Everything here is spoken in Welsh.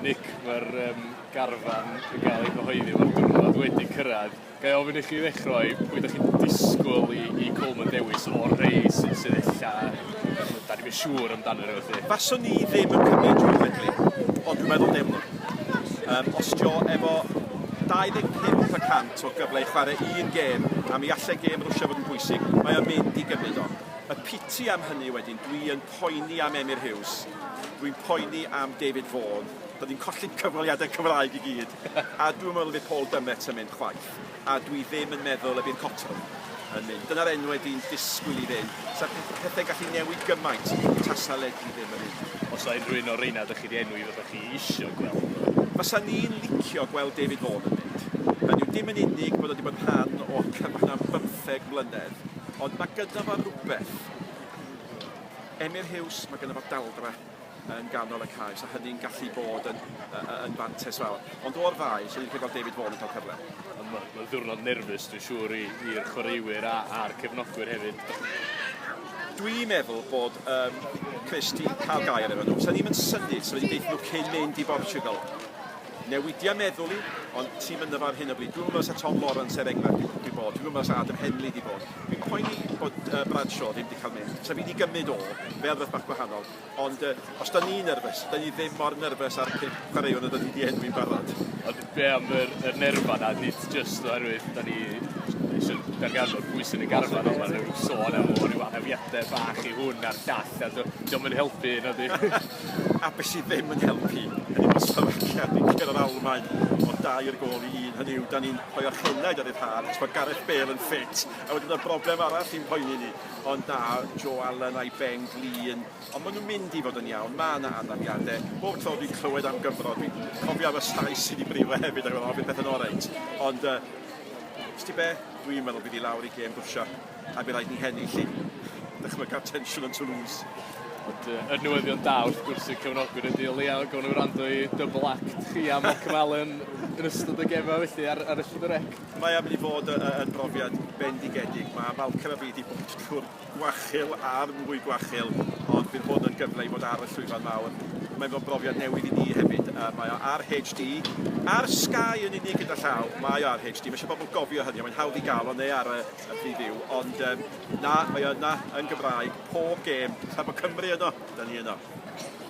Nick, mae'r um, garfan yn cael ei gyhoeddi, mae'r diwrnod wedi cyrraedd. Gai ofyn i chi ddechrau, pwy ydych chi'n disgwyl i, i Coleman dewis o'r rei sy'n sydd ella, da ni'n siŵr amdano nhw felly? Faswn ni ddim yn cymryd Joe Quigley, ond dwi'n meddwl deimlo. Um, os jo efo 25 y cant o gyfle i chwarae un gêm a mi allai gêm Rwsia fod yn bwysig, mae o'n mynd i gymryd o. Y piti am hynny wedyn, dwi yn poeni am Emyr Huws, dwi'n poeni am David Vaughan, dw i'n colli cyfweliadau Cymraeg i gyd, a dwi'm yn meddwl y bydd Paul Dummett yn mynd chwaith, a dwi ddim yn meddwl y bydd Cotterill yn mynd. Dyna'r enwau dwi'n disgwyl i fynd. Sa pethau'n gallu newid gymaint tasa Ledley ddim yn mynd. Os na unrhyw un o'r rheina ydych chi wedi enwi fyddwch chi eisiau gweld nhw? Fasa ni'n licio gweld David Vaughan yn mynd. Hynny yw, dim yn unig bod o wedi bod yn rhan o'r cyfnod am bymtheg mlynedd, ond mae gynno fo rywbeth. Emyr Huws, mae gynno fo daldra yn ganol y cae, so hynny'n gallu bod yn, yn fantes fawr. Ond o'r ddau, lle ni'n credu bod David Vaughan yn cael cyfle? Mae'n ma ddiwrnod nerfus, dwi'n siŵr, i'r chwaraewyr a'r cefnogwyr hefyd. Dwi'n meddwl bod um, Chris di cael gair efo nhw. Sa'n ni'n mynd syni, so wedi deitha nhw cyn mynd i Bortugal. Newidia meddwl i, ond ti'm ynddo fo ar hyn o bryd. Dwi'm yn meddwl sa Tom Lawrence er enghraifft 'di di bod. Dwi'm yn meddwl sa Adam Henley 'di bod. Fi'n poeni bod yy Bradshaw ddim 'di cael mynd. Sa fi 'di gymryd o fel rwbeth bach gwahanol. Ond yy os 'da ni'n nyrfys, 'da ni ddim mor nyrfys â'r pump chwaraewr nad 'da ni 'di enwi'n barod. Ond be' am yr yr nerfa 'na? Nid jyst oherwydd 'da ni isio darganfod pwy sy'n y garfan ond ma' ryw sôn am o ryw anafiade bach i hwn a'r llall a t'o' 'di o'm yn helpu nadi? A be' sydd ddim yn helpu ydi bod Slovakia wedi curo'r Almaen o dair gôl i un, hynny yw, 'dan ni'n rhoi o'r henaid ar ryddhad, achos bod Gareth Bale yn ffit, a wedyn y broblem arall sy'n poeni ni, ond na, Joe Allen a'i Ben Glean, ond ma' nhw'n mynd i fod yn iawn, ma' 'na anafiade, bob tro dwi'n clywed am Gymro, dwi'n cofio am y llais sy'n 'i briwe hefyd, ac yn meddwl, o, fydd pethe'n oreit, ond yy, 'sdi be', dwi'n meddwl bydd hi lawr i gêm Rwsia. a by' raid ni hennill i ddychmyga'r tensiwn yn Toulouse. Ond yy er newyddion da wrth gwrs i'r cefnogwyr y Duw leia gawn ni wrando i double act chi a Malcolm Allen yn ystod y gema felly ar ar y Llyfr Rec. Mae am i ni fod yy yy yn brofiad bendigedig. Ma' Malcolm a fi 'di bod trw'r gwachil a'r mwy gwachil ond bydd hwn yn gyfle i fod ar y llwyfan mawr. Mae fo'n brofiad newydd i ni hefyd a mae o ar HD ar Sky yn unig gyda llaw. Mae o ar HD ma' isie bobol gofio hynny a mae'n hawdd i ga'l o neu ar y y pryd yw, ond um, na, mae yna yn Gymraeg pob gêm, tra bod Cymru yno, da ni yno.